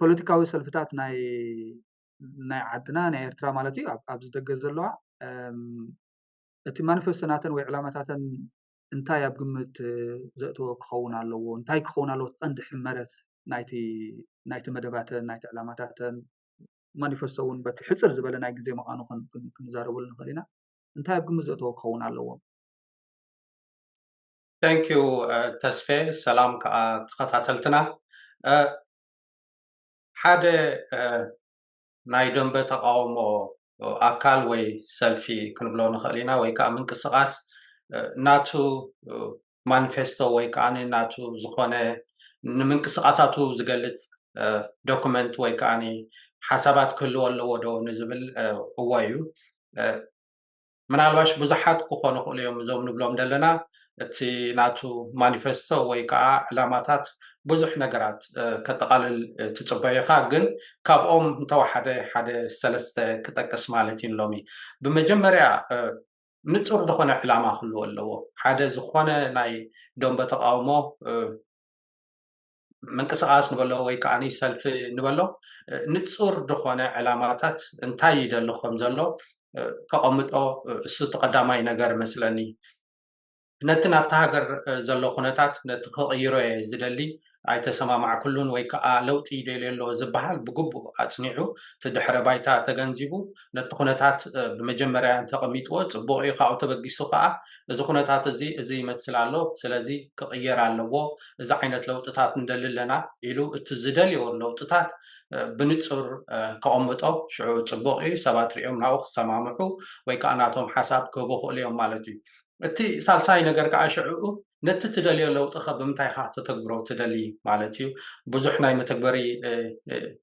ፖለቲካዊ ሰልፍታት ናይ ናይ ዓድና ናይ ኤርትራ ማለት እዩ ኣብዚ ደገ ዘለዋ እቲ ማኒፌስቶ ናተን ወይ ዕላማታተን እንታይ ኣብ ግምት ዘእተወ ክኸውን ኣለዎ እንታይ ክኸውን ኣለዎ ቀንዲ ሕመረት ናይቲ ናይቲ መደባተን ናይቲ ዕላማታተን ማኒፌስቶ እውን በቲ ሕፅር ዝበለ ናይ ግዜ ምዃኑ ክንዛረበሉ ንኽእል ኢና እንታይ ኣብ ግምት ዘእተወ ክኸውን ኣለዎ Thank you ተስፌ ሰላም ከኣ ተኸታተልትና ሓደ ናይ ደንበ ተቃውሞ ኣካል ወይ ሰልፊ ክንብሎ ንኽእል ኢና ወይ ከዓ ምንቅስቃስ ናቱ ማኒፌስቶ ወይ ከዓ ናቱ ዝኾነ ንምንቅስቃሳቱ ዝገልፅ ዶክመንት ወይ ከዓ ሓሳባት ክህልዎ ኣለዎ ዶ ንዝብል እዎ እዩ ምናልባሽ ብዙሓት ክኾኑ ይኽእሉ እዮም እዞም ንብሎም ዘለና እቲ ናቱ ማኒፌስቶ ወይ ከዓ ዕላማታት ብዙሕ ነገራት ከጠቓልል ትፅበዮ ኢኻ ግን ካብኦም እንተወሓደ ሓደ ሰለስተ ክጠቅስ ማለት እዩ ንሎሚ ብመጀመርያ ንፁር ዝኾነ ዕላማ ክህልዎ ኣለዎ ሓደ ዝኾነ ናይ ደንበ ተቓውሞ ምንቅስቓስ ንበሎ ወይ ከዓ ሰልፊ ንበሎ ንፁር ዝኾነ ዕላማታት እንታይ ይደሊ ከም ዘሎ ከቐምጦ እሱ እቲ ቀዳማይ ነገር መስለኒ ነቲ ናብቲ ሃገር ዘሎ ኩነታት ነቲ ክቕይሮ እየ ዝደሊ ኣይተሰማማዕኩሉን ወይ ከዓ ለውጢ ይደልዮ ኣሎ ዝበሃል ብግቡእ ኣፅኒዑ እቲ ድሕረ ባይታ ተገንዚቡ ነቲ ኩነታት ብመጀመርያ እንተቐሚጥዎ ጽቡቕ እዩ፣ ካብኡ ተበጊሱ ከኣ እዚ ኩነታት እዚ እዚ ይመስል ኣሎ፣ ስለዚ ክቕየር ኣለዎ፣ እዚ ዓይነት ለውጥታት ንደሊ ኣለና ኢሉ እቲ ዝደልዮ ለውጥታት ብንጹር ከቐምጦ ሽዑ ጽቡቕ እዩ፣ ሰባት ርእዮም ናብኡ ክሰማምዑ ወይ ከኣ ናቶም ሓሳብ ክህቡ ይኽእሉ እዮም ማለት እዩ። እቲ ሳልሳይ ነገር ከኣ ሽዕኡ ነቲ ትደልዮ ለውጢኸ ብምንታይ ኢኻ ክተተግብሮ ትደሊ ማለት እዩ። ብዙሕ ናይ መተግበሪ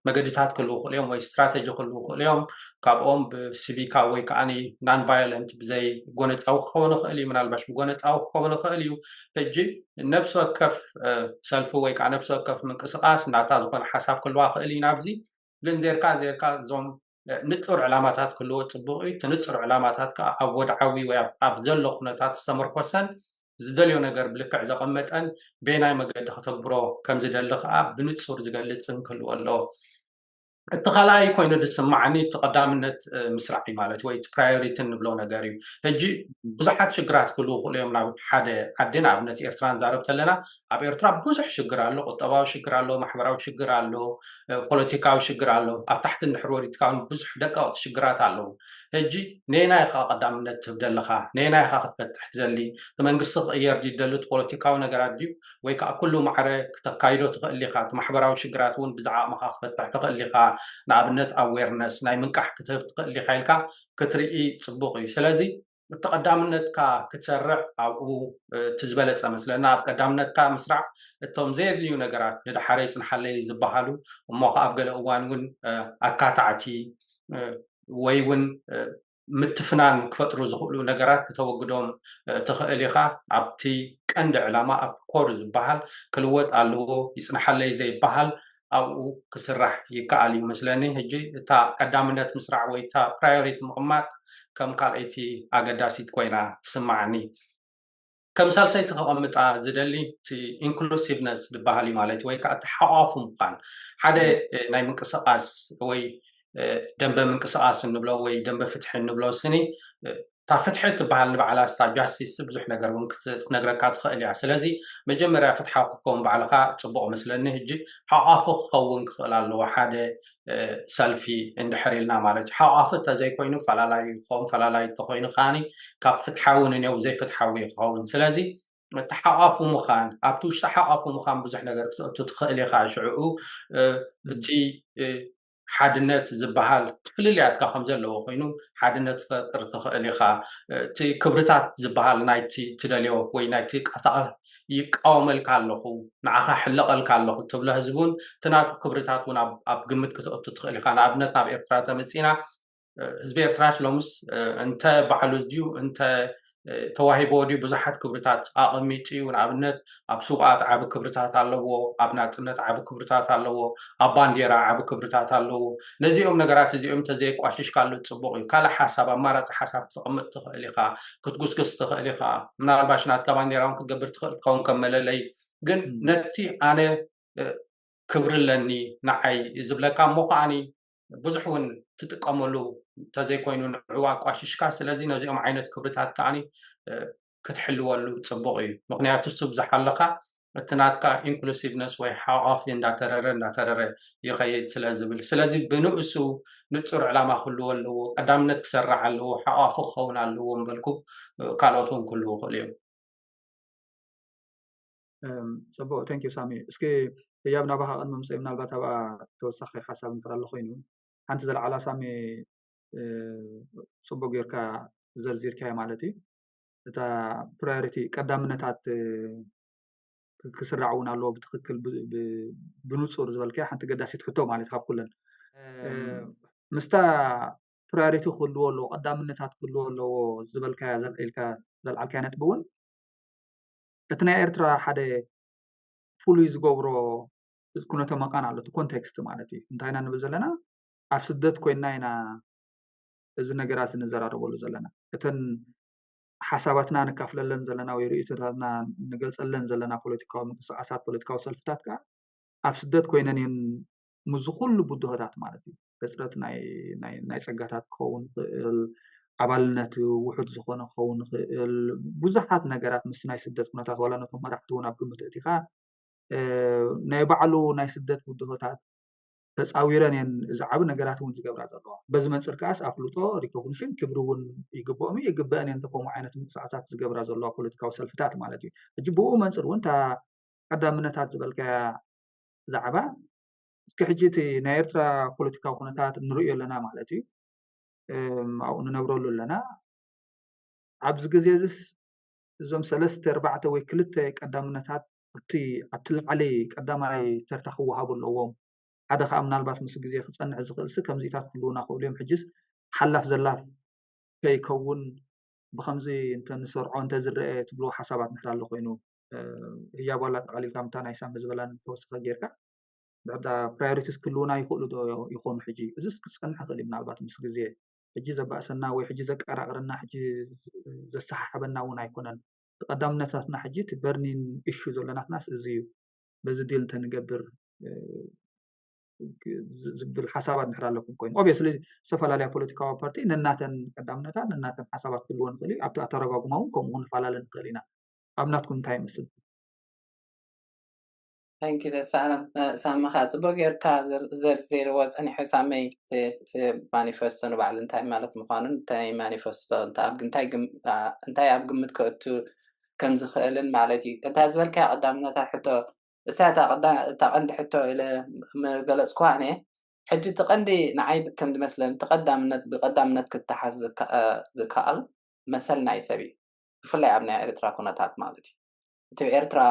መገዲታት ክህልዉ ይኽእሉ እዮም ወይ ስትራተጂ ክህልዉ ይኽእሉ እዮም። ካብኦም ብሲቪካ ወይ ከኣ ናን ቫዮለንት ብዘይ ጎነጻዊ ክኸውን ይኽእል እዩ፣ ምናልባሽ ብጎነጻዊ ክኸውን ይኽእል እዩ። ሕጂ ነብሲ ወከፍ ሰልፊ ወይ ከኣ ነብሲ ወከፍ ምንቅስቓስ ናታ ዝኾነ ሓሳብ ክህልዋ ይኽእል እዩ ናብዚ ግን ዜርካ ዜርካ እዞም ንጹር ዕላማታት ክህልዎ ጽቡቕ እዩ። እቲ ንጹር ዕላማታት ከኣ ኣብ ወድዓዊ ወይ ኣብ ዘሎ ኩነታት ዝተመርኮሰን ዝደልዮ ነገር ብልክዕ ዘቐመጠን በየናይ መገዲ ከተግብሮ ከም ዝደሊ ከኣ ብንጹር ዝገልጽን ክህልዎ ኣለዎ። እቲ ካልኣይ ኮይኑ ዝስማዓኒ እቲ ቀዳምነት ምስራዕ እዩ ማለት ወይ እቲ ፕራዮሪቲ እንብሎ ነገር እዩ። ሕጂ ብዙሓት ሽግራት ክህልዉ ይኽእሉ እዮም ናብ ሓደ ዓዲ ንኣብነት ኤርትራ ንዛረብ ተለና ኣብ ኤርትራ ብዙሕ ሽግር ኣሎ ቁጠባዊ ሽግር ኣሎ ማሕበራዊ ሽግር ኣሎ ፖለቲካዊ ሽግር ኣሎ ኣብ ታሕቲ ንድሕሪ ወሪድካ ብዙሕ ደቀቕቲ ሽግራት ኣለዉ ሕጂ ነየናይ ኢኻ ቀዳምነት ትህብ ዘለኻ ነየናይ ኢኻ ክትፈትሕ ትደሊ እቲ መንግስቲ ክቕየር ድዩ ደሊ እቲ ፖለቲካዊ ነገራት ድዩ ወይ ከዓ ኩሉ ማዕረ ክተካይዶ ትኽእል ኢኻ እቲ ማሕበራዊ ሽግራት እውን ብዛዕቕምኻ ክፈትሕ ትኽእል ኢኻ ንኣብነት ኣዌርነስ ናይ ምንቃሕ ክትህብ ትኽእል ኢኻ ኢልካ ክትርኢ ፅቡቕ እዩ ስለዚ እቲ ቀዳምነትካ ክትሰርዕ ኣብኡ እቲ ዝበለፀ መስለና ኣብ ቀዳምነትካ ምስራዕ እቶም ዘየድልዩ ነገራት ንደሓረይ ፅንሓለይ ዝበሃሉ እሞ ከዓ ኣብ ገለ እዋን እውን ኣካታዕቲ ወይ እውን ምትፍናን ክፈጥሩ ዝኽእሉ ነገራት ክተወግዶም ትኽእል ኢኻ ኣብቲ ቀንዲ ዕላማ ኣብቲ ኮር ዝበሃል ክልወጥ ኣለዎ ይፅንሓለይ ዘይበሃል ኣብኡ ክስራሕ ይከኣል እዩ መስለኒ ሕጂ እታ ቀዳምነት ምስራዕ ወይ እታ ፕራዮሪቲ ምቕማጥ ከም ካልኣይቲ ኣገዳሲት ኮይና ትስምዓኒ ከም ሳልሰይቲ ከቐምጣ ዝደሊ እቲ ኢንክሉሲቭነስ ዝበሃል እዩ ማለት ወይ ከዓ እቲ ሓቋፉ ምዃን ሓደ ናይ ምንቅስቓስ ወይ ደንበ ምንቅስቓስ እንብሎ ወይ ደንበ ፍትሒ እንብሎ ስኒ እታ ፍትሒ እትበሃል ንባዕላ ንሳ ጃስቲስ ብዙሕ ነገር ውን ክትነግረካ ትኽእል እያ ስለዚ መጀመርያ ፍትሓዊ ክትከውን ባዕልኻ ጽቡቕ እመስለኒ ህጂ ሓቛፊ ክኸውን ክኽእል ኣለዎ ሓደ ሰልፊ እንድሕር ኢልና ማለት እዩ ሓቛፊ እንተዘይኮይኑ ፈላላዩ ክኸውን ፈላላዩ እንተኾይኑ ከኣ ካብ ፍትሓዊ ንኔው ዘይፍትሓዊ እዩ ክኸውን ስለዚ እቲ ሓቋፉ ምዃን ኣብቲ ውሽጢ ሓቋፉ ምዃን ብዙሕ ነገር ክትእቱ ትኽእል ኢኻ ሽዕኡ እቲ ሓድነት ዝበሃል ፍልልያትካ ከም ዘለዎ ኮይኑ ሓድነት ትፈጥር ትኽእል ኢኻ እቲ ክብርታት ዝበሃል ናይቲ ትደልዮ ወይ ናይቲ ቃታዕ ይቃወመልካ ኣለኹ ንዓኻ ሕለቐልካ ኣለኹ ትብሎ ህዝቢ እውን እቲ ናቱ ክብርታት እውን ኣብ ግምት ክትእቱ ትኽእል ኢኻ ንኣብነት ናብ ኤርትራ ተመፂና ህዝቢ ኤርትራስ ሎምስ እንተ ባዕሉ ድዩ እንተ ተዋሂብዎ ድዩ ብዙሓት ክብርታት ኣቐሚጡ እዩ ንኣብነት ኣብ ስውኣት ዓቢ ክብርታት ኣለዎ ኣብ ናጽነት ዓቢ ክብርታት ኣለዎ ኣብ ባንዴራ ዓቢ ክብርታት ኣለዎ ነዚኦም ነገራት እዚኦም እንተዘየቋሽሽካሉ ጽቡቕ እዩ ካልእ ሓሳብ ኣማራጺ ሓሳብ ክትቕምጥ ትኽእል ኢኻ ክትጉስግስ ትኽእል ኢኻ ምናልባሽ ናትካ ባንዴራ እውን ክትገብር ትኽእል ትኸውን ከም መለለይ ግን ነቲ ኣነ ክብሪ ኣለኒ ንዓይ ዝብለካ እሞ ከዓኒ ብዙሕ እውን ትጥቀመሉ እንተዘይኮይኑ ንዕዋ ኣቋሽሽካ ስለዚ ነዚኦም ዓይነት ክብርታት ከዓኒ ክትሕልወሉ ፅቡቕ እዩ ምክንያቱ ስብ ዝሓለኻ እቲ ናትካ ኢንክሉሲቭነስ ወይ ሓቋፊ እንዳተረረ እንዳተረረ ይኸይድ ስለ ዝብል ስለዚ ብንእሱ ንፁር ዕላማ ክህልዎ ኣለዎ ቀዳምነት ክሰርዕ ኣለዎ ሓቋፊ ክኸውን ኣለዎ ምበልኩ ካልኦት እውን ክህልው ይኽእሉ እዮም ፅቡቅ thank you ሳሚ እስኪ ህያብ ናባካ ቅድሚ ምፅየይ ምናልባት ኣብኣ ተወሳኪ ሓሳብ እንድሕር ኣሎ ኮይኑ ሓንቲ ዘልዓላ ሳሚ ፅቡቅ ገይርካ ዘርዚርካያ ማለት እዩ እታ ፕራዮሪቲ ቀዳምነታት ክስራዕ እውን ኣለዎ ብትክክል ብንፁር ዝበልካያ ሓንቲ ገዳሲት ሕቶ ማለት ካብ ኩለን ምስታ ፕራዮሪቲ ክህልዎ ኣለዎ ቀዳምነታት ክህልዎ ኣለዎ ዝበልካያ ኢልካ ዘልዓልካያ ነጥቢ እውን እቲ ናይ ኤርትራ ሓደ ፍሉይ ዝገብሮ ኩነተ መቃን ኣሎ እቲ ኮንቴክስት ማለት እዩ እንታይ ኢና ንብል ዘለና ኣብ ስደት ኮይና ኢና እዚ ነገራት ንዘራረበሉ ዘለና እተን ሓሳባትና ንካፍለለን ዘለና ወይ ርእይቶታትና ንገልፀለን ዘለና ፖለቲካዊ ምንቅስቃሳት ፖለቲካዊ ሰልፍታት ከዓ ኣብ ስደት ኮይነን እየን ምስዚ ኩሉ ብድሆታት ማለት እዩ ሕፅረት ናይ ፀጋታት ክኸውን ይኽእል፣ ኣባልነት ውሑድ ዝኾነ ክኸውን ይኽእል፣ ብዙሓት ነገራት ምስ ናይ ስደት ኩነታት ዋላ ነቶም መራሕቲ እውን ኣብ ግምት ኣእቲኻ ናይ ባዕሉ ናይ ስደት ብድሆታት ተፃዊረን እየን እዚ ዓብ ነገራት እውን ዝገብራ ዘለዋ በዚ መንፅር ከዓስ ኣፍልጦ ሪኮግኒሽን ክብሪ እውን ይግብኦም እዩ ይግበአን እየን ከምኡ ዓይነት ምንቅስቃሳት ዝገብራ ዘለዋ ፖለቲካዊ ሰልፍታት ማለት እዩ ሕጂ ብኡ መንፅር እውን እታ ቀዳምነታት ዝበልካያ ዛዕባ እስኪ ሕጂ እቲ ናይ ኤርትራ ፖለቲካዊ ኩነታት ንርእዮ ኣለና ማለት እዩ ኣብኡ ንነብረሉ ኣለና ኣብዚ ግዜ እዚስ እዞም ሰለስተ ኣርባዕተ ወይ ክልተ ቀዳምነታት እቲ ኣብቲ ላዕሊ ቀዳማይ ተርታ ክወሃቡ ኣለዎም ሓደ ከዓ ምናልባት ምስ ግዜ ክፀንዕ ዝኽእልሲ ከምዚታት ክህልውና ክእሉ እዮም ሕጅስ ሓላፍ ዘላፍ ከይከውን ብከምዚ እንተ ንሰርዖ እንተ ዝረአ ትብልዎ ሓሳባት ንሕር ኣሎ ኮይኑ ህያብ ዋላ ጠቓሊልካ ምታ ናይ ሳሚ ዝበላን ተወስኸ ጌርካ ፕራዮሪቲስ ክህልዉና ይኽእሉ ዶ ይኾኑ ሕጂ? እዚስ ክጸንሕ ይኽእል እዩ ምናልባት ምስ ግዜ። ሕጂ ዘባእሰና ወይ ሕጂ ዘቀራቕረና ሕጂ ዘሰሓሕበና እውን ኣይኮነን። እቲ ቀዳምነታትና ሕጂ እቲ በርኒን ኢሹ ዘሎ ናትናስ እዚ እዩ። በዚ ዲል እንተንገብር ዝብል ሓሳባት እንድሕር ኣለኩም ኮይኑ ኦብየስሊ ዝተፈላለያ ፖለቲካዊ ፓርቲ ነናተን ቀዳምነታት ነናተን ሓሳባት ክህልዎ ንኽእል እዩ። ኣብቲ ኣተረጓጉማ እውን ከምኡ ክንፈላለ ንኽእል ኢና። ኣብ ናትኩም እንታይ ይመስል? Thank you ደሳለ ሳሚ ከዓ ፅቡቅ ጌርካ ዘርዚርዎ ፀኒሑ ሳሚ እቲ ማኒፈስቶ ንባዕሉ እንታይ ማለት ምኳኑን እንታይ ማኒፈስቶ እንታይ ኣብ ግምት ከእቱ ከም ዝክእልን ማለት እዩ እታ ዝበልካያ ቀዳምነት እታ ሕቶ እሳ እታ ቀንዲ ሕቶ ኢለ ምገለፅኩዋ እኔ ሕጂ እቲ ቀንዲ ንዓይ ከም ዝመስለኒ እቲ ቀዳምነት ብቀዳምነት ክተሓዝ ዝከኣል መሰል ናይ ሰብ እዩ ብፍላይ ኣብ ናይ ኤርትራ ኩነታት ማለት እዩ እቲ ኤርትራ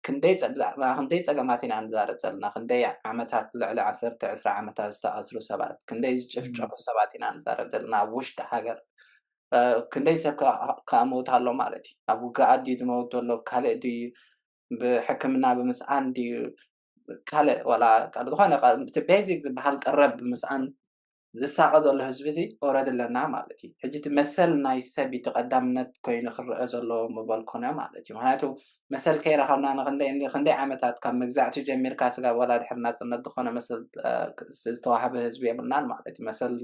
ክንደይ ብዛዕባ ክንደይ ጸገማት ኢና ንዛረብ ዘለና ክንደይ ዓመታት ልዕሊ ዓሰርተ ዕስራ ዓመታት ዝተኣስሩ ሰባት ክንደይ ዝጭፍጨፉ ሰባት ኢና ንዛረብ ዘለና ኣብ ውሽጢ ሃገር ክንደይ ሰብ ከኣ ሞት ኣሎ ማለት እዩ ኣብ ውግኣት ድዩ ዝመውት ዘሎ ካልእ ድዩ ብሕክምና ብምስኣን ድዩ ካልእ ዋላ ካልእ ዝኾነ እቲ ቤዚክ ዝበሃል ቀረብ ብምስኣን ዝሳቀ ዘሎ ህዝቢ ሲ ኦረዲ ኣለና ማለት እዩ ሕጂ እቲ መሰል ናይ ሰብ እቲ ቀዳምነት ኮይኑ ክረኣ ዘለዎ ምበል ኮነ ማለት እዩ ምክንያቱ መሰል ከይረከብና ንክንደይ ክንደይ ዓመታት ካብ መግዛእቲ ጀሚርካ ስጋብ ወላ ድሕሪ ናጽነት ዝኮነ መሰል ዝተዋህበ ህዝቢ የብልናን ማለት እዩ መሰል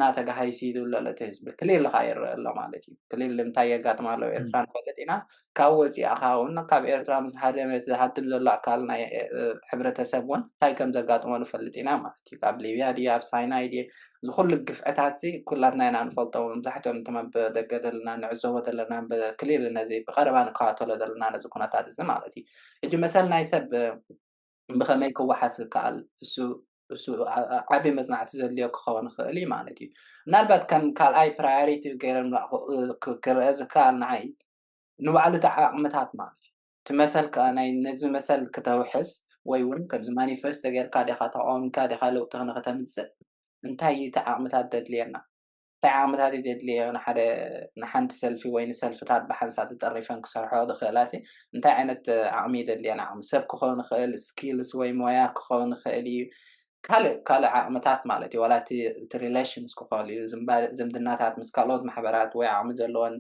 ና ተጋሃይሲ ይብሉ ኣሎ እቲ ህዝቢ ክሊል ከኣ ይረኣ ኣሎ ማለት እዩ ክሊል እንታይ የጋጥም ኣሎ ኤርትራ ንፈልጥ ኢና ካብ ወጺኣኻ ውን ካብ ኤርትራ ምስ ሃደመ እቲ ዝሃድም ዘሎ ኣካል ናይ ሕብረተሰብ ውን እንታይ ከም ዘጋጥሞ ንፈልጥ ኢና ማለት እዩ ካብ ሊብያ ድየ ኣብ ሳይናይ ድየ እዚ ኩሉ ግፍዕታትዚ ኩላትና ኢና ንፈልጦ መብዛሕትኦም እቶም ኣብ ደገ ዘለና ንዕዘቦ ዘለና ክሊር ነዚ ብቀረባ ንከታተሎ ዘለና ነዚ ኩነታት እዚ ማለት እዩ ሕጂ መሰል ናይ ሰብ ብኸመይ ክወሓስ ይከኣል? እሱ እሱ ዓቢ መጽናዕቲ ዘድልዮ ክኸውን ይኽእል እዩ ማለት እዩ። ምናልባት ከም ካልኣይ ፕራዮሪቲ ገይረ ክረአ ዝከኣል ንዓይ ንባዕሉ እቲ ዓቕምታት ማለት እዩ እቲ መሰል ከኣ ናይ ነዚ መሰል ክተውሕስ ወይ እውን ከምዚ ማኒፌስቶ ጌርካ ዲኻ ተቓዊምካ ዲኻ ለውጢ ንክተምጽእ እንታይ እዩ እቲ ዓቕምታት ዘድልየና? እንታይ ዓቕምታት ይደድልየዮ ንሓደ ንሓንቲ ሰልፊ ወይ ንሰልፍታት ብሓንሳእ ተጠሪፈን ክሰርሕኦ ዝኽእላሲ እንታይ ዓይነት ዓቕሚ ይደድልየን ዓቕሚ ሰብ ክኸውን ይኽእል ስኪልስ ወይ ሞያ ክኸውን ይኽእል እዩ ካልእ ካልእ ዓቕምታት ማለት እዩ ዋላ እቲ እቲ ሪሌሽንስ ክኾል እዩ ዝምባ ዝምድናታት ምስ ካልኦት ማሕበራት ወይ ዓቕሚ ዘለወን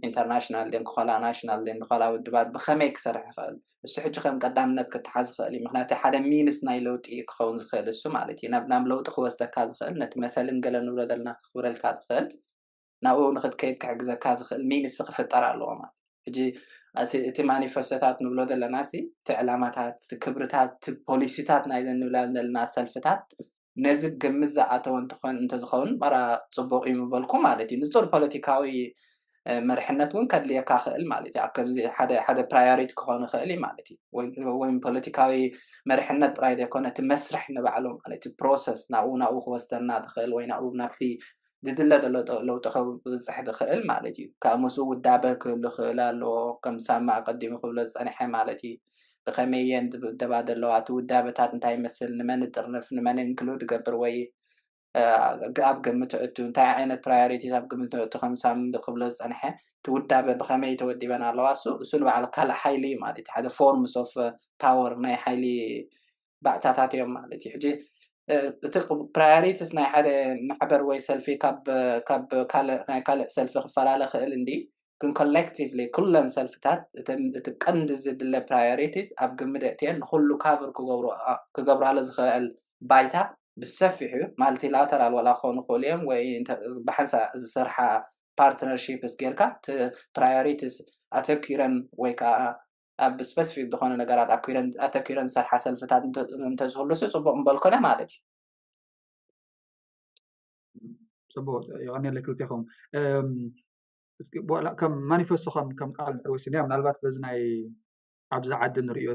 ኢንተርናሽናል ድየን ክኾላ ናሽናል ድየን ዝኮላ ውድባት ብኸመይ ክሰርሕ ይኽእል እሱ ሕጂ ከም ቀዳምነት ክተሓዝ ዝኽእል እዩ ምክንያቱ ሓደ ሚንስ ናይ ለውጢ እዩ ክኸውን ዝኽእል እሱ ማለት እዩ ናብ ናብ ለውጢ ክወስደካ ዝኽእል ነቲ መሰልን ገለ ንብሎ ዘለና ክኽብረልካ ዝኽእል ናብኡ ንክትከይድ ክሕግዘካ ዝኽእል ሚንስ ክፍጠር ኣለዎ ማለት ሕጂ እቲ እቲ ማኒፈስቶታት ንብሎ ዘለና ሲ እቲ ዕላማታት እቲ ክብርታት እቲ ፖሊሲታት ናይዘን ንብላ ዘለና ሰልፍታት ነዚ ግምት ዝኣተወ እንተኾን እንተዝኸውን ማራ ጽቡቕ እዩ ምበልኩ ማለት እዩ። ንጹር ፖለቲካዊ መርሕነት እውን ከድልየካ ይኽእል ማለት እዩ። ኣብ ከምዚ ሓደ ሓደ ፕራዮሪቲ ክኾን ይኽእል እዩ ማለት እዩ። ወይ ወይ ፖለቲካዊ መርሕነት ጥራይ ዘይኮነ እቲ መስርሕ ንባዕሉ ማለት እዩ ፕሮሰስ ናብኡ ናብኡ ክወስደና ዝኽእል ወይ ናብኡ ናብቲ ዝድለ ዘሎ ለውጢ ክብጽሕ ዝኽእል ማለት እዩ። ካብ ምስኡ ውዳበ ክህሉ ክኽእል ኣለዎ፣ ከም ሳማ ኣቐዲሙ ክብሎ ዝጸንሐ ማለት እዩ። ብኸመይ እየን ዝውደባ ዘለዋ፣ እቲ ውዳበታት እንታይ ይመስል፣ ንመን እጥርንፍ፣ ንመን ኢንክሉድ እገብር ወይ ኣብ ግምት እእቱ፣ እንታይ ዓይነት ፕራዮሪቲስ ኣብ ግምት እእቱ ከም ሳም ክብሎ ዝጸንሐ፣ እቲ ውዳበ ብኸመይ ተወዲበን ኣለዋ፣ እሱ ንባዕሉ ካልእ ሓይሊ እዩ ማለት እዩ። ሓደ ፎርምስ ኦፍ ፓወር ናይ ሓይሊ ባእታታት እዮም ማለት እዩ ሕጂ እቲ ፕራዮሪቲስ ናይ ሓደ ማሕበር ወይ ሰልፊ ካብ ካልእ ናይ ካልእ ሰልፊ ክፈላለ ክእል እንዲ ግን ኮሌክቲቭሊ ኩለን ሰልፍታት እቲ ቀንዲ ዝድለ ፕራዮሪቲስ ኣብ ግምደ እትየን ንኩሉ ካብር ክገብራሉ ዝክእል ባይታ ብሰፊሑ ማልቲላተራል ዋላ ክኾኑ ክእሉ እዮም ወይ ብሓንሳ ዝስርሓ ፓርትነርሺፕስ ጌርካ እቲ ፕራዮሪቲስ ኣተኪረን ወይ ከዓ ኣብ ስፐሲፊክ ዝኾነ ነገራት ኣተኪረን ዝሰርሓ ሰልፍታት እንተዝህሉሲ ፅቡቕ ምበልኩነ ማለት እዩ። ፅቡቕ የቐኒየለይ ክልቴኹም ከም ማኒፌስቶ ከም ቃል ድሕሪ ወሲድናዮ ምናልባት በዚ ናይ ኣብዚ ዓዲ ንሪኦ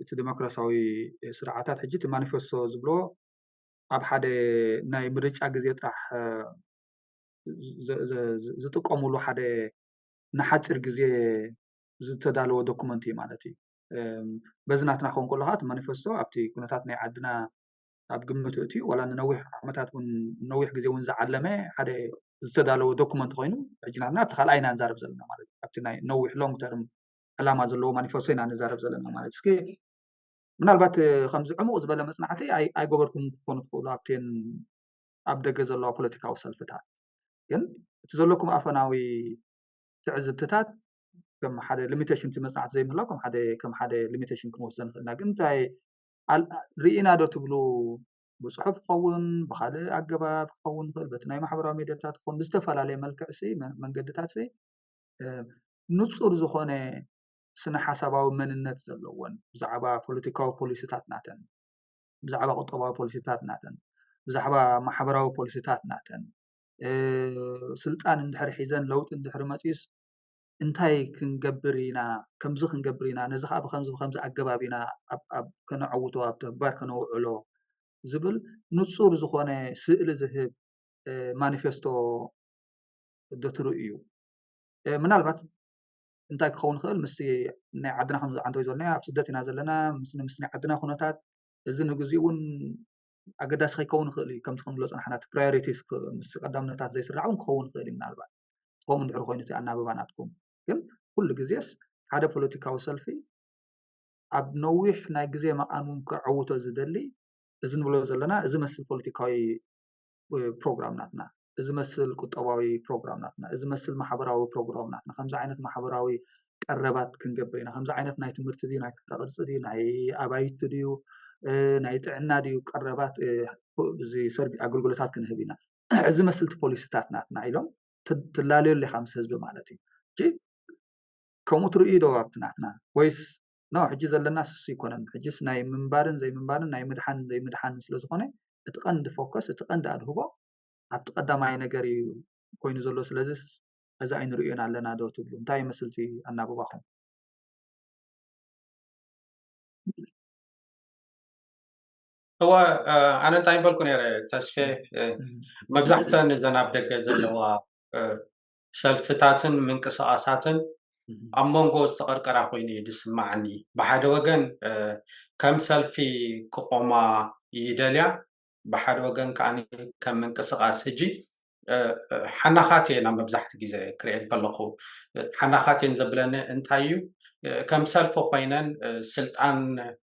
እቲ ዲሞክራሲያዊ ስርዓታት ሕጂ እቲ ማኒፌስቶ ዝብሎ ኣብ ሓደ ናይ ምርጫ ግዜ ጥራሕ ዝጥቀምሉ ሓደ ንሓፂር ግዜ ዝተዳለወ ዶኩመንት እዩ ማለት እዩ በዚ ናትና ክኸውን ከሎ ከዓ እቲ ማኒፈስቶ ኣብቲ ኩነታት ናይ ዓድና ኣብ ግምት እትዩ ዋላ ንነዊሕ ዓመታት እውን ነዊሕ ግዜ እውን ዝዓለመ ሓደ ዝተዳለወ ዶኩመንት ኮይኑ ሕጂ ናትና ኣብቲ ካልኣ ኢና ንዛረብ ዘለና ማለት እዩ ኣብቲ ናይ ነዊሕ ሎንግ ተርም ዕላማ ዘለዎ ማኒፈስቶ ኢና ንዛረብ ዘለና ማለት እስኪ ምናልባት ከምዚ ዕሙቕ ዝበለ መፅናዕቲ ኣይገበርኩም ክትኮኑ ትኽእሉ ኣብቴን ኣብ ደገ ዘለዋ ፖለቲካዊ ሰልፍታት ግን እቲ ዘለኩም ኣፈናዊ ትዕዝብትታት ከም ሓደ ሊሚቴሽን እቲ መፅናዕቲ ዘይምህላው ከም ሓደ ከም ሓደ ሊሚቴሽን ክንወስዶ ንኽእል ኢና ግን እንታይ ርኢና ዶ ትብሉ ብፅሑፍ ክኸውን ብካልእ ኣገባብ ክኸውን ይኽእል በቲ ናይ ማሕበራዊ ሜድያታት ክኸውን ብዝተፈላለየ መልክዕ ሲ መንገድታት ሲ ንፁር ዝኾነ ስነ ሓሳባዊ መንነት ዘለዎን ብዛዕባ ፖለቲካዊ ፖሊሲታት ናተን ብዛዕባ ቁጠባዊ ፖሊሲታት ናተን ብዛዕባ ማሕበራዊ ፖሊሲታት ናተን ስልጣን እንድሕር ሒዘን ለውጢ እንድሕር መፂኡስ እንታይ ክንገብር ኢና ከምዚ ክንገብር ኢና ነዚ ከዓ ብከምዚ ብከምዚ ኣገባብ ኢና ከነዐውቶ ኣብ ተግባር ከነውዕሎ ዝብል ንፁር ዝኮነ ስእሊ ዝህብ ማኒፌስቶ ደትሩ እዩ። ምናልባት እንታይ ክኸውን ይኽእል ምስቲ ናይ ዓድና ከምዚ ዓንተወይ ዝበልናዮ ኣብ ስደት ኢና ዘለና ምስ ናይ ዓድና ኩነታት እዚ ንግዚኡ እውን ኣገዳሲ ከይከውን ይኽእል እዩ ከምቲ ክንብሎ ፅናሕና እቲ ፕራዮሪቲስ ምስ ቀዳምነታት ዘይስራዕ እውን ክኸውን ይኽእል እዩ ምናልባት ከምኡ እንድሕር ኮይኑ እቲ ኣናብባ ናትኩም ግን ኩሉ ግዜስ ሓደ ፖለቲካዊ ሰልፊ ኣብ ነዊሕ ናይ ግዜ መቓን እውን ከዐውቶ ዝደሊ እዚ ንብሎ ዘለና እዚ መስል ፖለቲካዊ ፕሮግራም ናትና እዚ መስል ቁጠባዊ ፕሮግራም ናትና፣ እዚ መስል ማሕበራዊ ፕሮግራም ናትና፣ ከምዚ ዓይነት ማሕበራዊ ቀረባት ክንገብር ኢና፣ ከምዚ ዓይነት ናይ ትምህርቲ ድዩ፣ ናይ ክፍለ ቅርጺ ድዩ፣ ናይ ኣባይቲ ድዩ፣ ናይ ጥዕና ድዩ ቀረባት ኣገልግሎታት ክንህብ ኢና፣ እዚ መስል እቲ ፖሊሲታት ናትና ኢሎም ትላለዮ ኣለኻ ምስ ህዝቢ ማለት እዩ። ሕጂ ከምኡ ትርእዩ ዶ ኣብቲ ናትና ወይስ ኖ ሕጂ ዘለና ስሱ ኣይኮነን ሕጂስ ናይ ምንባርን ዘይምንባርን ናይ ምድሓን ዘይምድሓን ስለዝኾነ እቲ ቀንዲ ፎከስ እቲ ቀንዲ ኣድህቦ ኣብቲ ቀዳማይ ነገር እዩ ኮይኑ ዘሎ ስለዝስ ሕዚ ኣይንርእዮን ኣለና ዶ ትብሉ እንታይ ይመስል እቲ ኣናብባኹም እወ ኣነ እንታይ በልኩ ነረ ተስፌ መብዛሕተን እዘን ኣብ ደገ ዘለዋ ሰልፍታትን ምንቅስቃሳትን ኣብ መንጎ ዝተቐርቀራ ኮይኑ እዩ ዝስማዓኒ ብሓደ ወገን ከም ሰልፊ ክቆማ ይደልያ ብሓደ ወገን ከኣ ከም ምንቅስቃስ ህጂ ሓናኻት እየን ኣብ መብዛሕትኡ ግዜ ክሪኤን ከለኹ ሓናኻት እየን ዘብለኒ እንታይ እዩ ከም ሰልፊ ኮይነን ስልጣን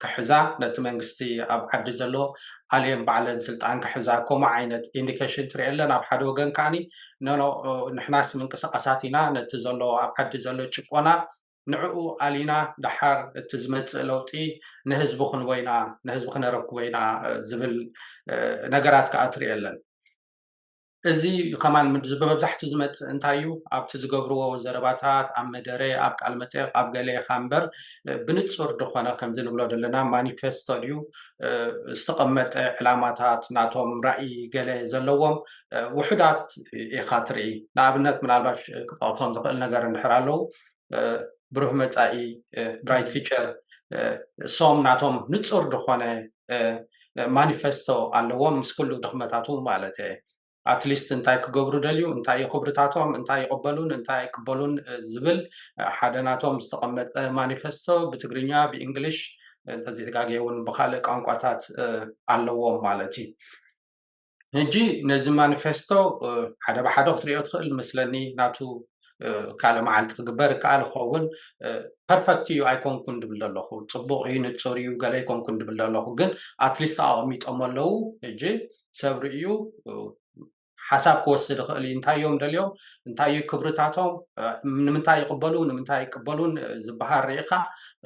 ክሕዛ ነቲ መንግስቲ ኣብ ዓዲ ዘሎ ኣልየን ባዕለን ስልጣን ክሕዛ ከምኡ ዓይነት ኢንዲኬሽን ትሪኤለን ኣብ ሓደ ወገን ከዓኒ ኖኖ ንሕናስ ምንቅስቃሳት ኢና ነቲ ዘሎ ኣብ ዓዲ ዘሎ ጭቆና ንዕኡ ኣሊና ደሓር እቲ ዝመፅእ ለውጢ ንህዝቢ ክንቦ ኢና፣ ንህዝቢ ክነረክቦ ኢና ዝብል ነገራት ከዓ ትሪኢ ኣለን። እዚ ከማን ብመብዛሕትኡ ዝመፅእ እንታይ እዩ ኣብቲ ዝገብርዎ ዘረባታት ኣብ መደረ፣ ኣብ ቃል መጠየቕ፣ ኣብ ገለ ኢኻ እምበር ብንፁር ዝኾነ ከምዚ ንብሎ ዘለና ማኒፌስቶ ድዩ ዝተቐመጠ ዕላማታት ናቶም ራእይ ገለ ዘለዎም ውሑዳት ኢኻ ትሪኢ። ንኣብነት ምናልባሽ ክጠቕሶም ዝኽእል ነገር እንድሕር ኣለው ብሩህ መፃኢ ብራይት ፊቸር ሶም ናቶም ንፁር ዝኾነ ማኒፌስቶ ኣለዎም ምስ ኩሉ ድኽመታቱ ማለት እየ ኣትሊስት እንታይ ክገብሩ ደልዩ እንታይ እዩ ክብርታቶም እንታይ ይቕበሉን እንታይ ኣይቅበሉን ዝብል ሓደ ናቶም ዝተቐመጠ ማኒፌስቶ ብትግርኛ ብእንግሊሽ እንተዘይተጋገየ እውን ብካልእ ቋንቋታት ኣለዎም ማለት እዩ ሕጂ ነዚ ማኒፌስቶ ሓደ ብሓደ ክትሪኦ ትኽእል መስለኒ ናቱ ካልእ መዓልቲ ክግበር ይከኣል ይኸውን ፐርፈክት እዩ ኣይኮንኩን ድብል ዘለኹ ፅቡቕ እዩ ንፁር እዩ ገለ ኣይኮንኩን ድብል ዘለኹ ግን ኣትሊስት ኣቐሚጦሞ ኣለዉ ሕጂ ሰብ ርእዩ ሓሳብ ክወስድ ይኽእል እዩ እንታይ እዮም ደልዮም እንታይ እዩ ክብርታቶም ንምንታይ ይቕበሉ ንምንታይ ይቅበሉን ዝበሃል ርኢኻ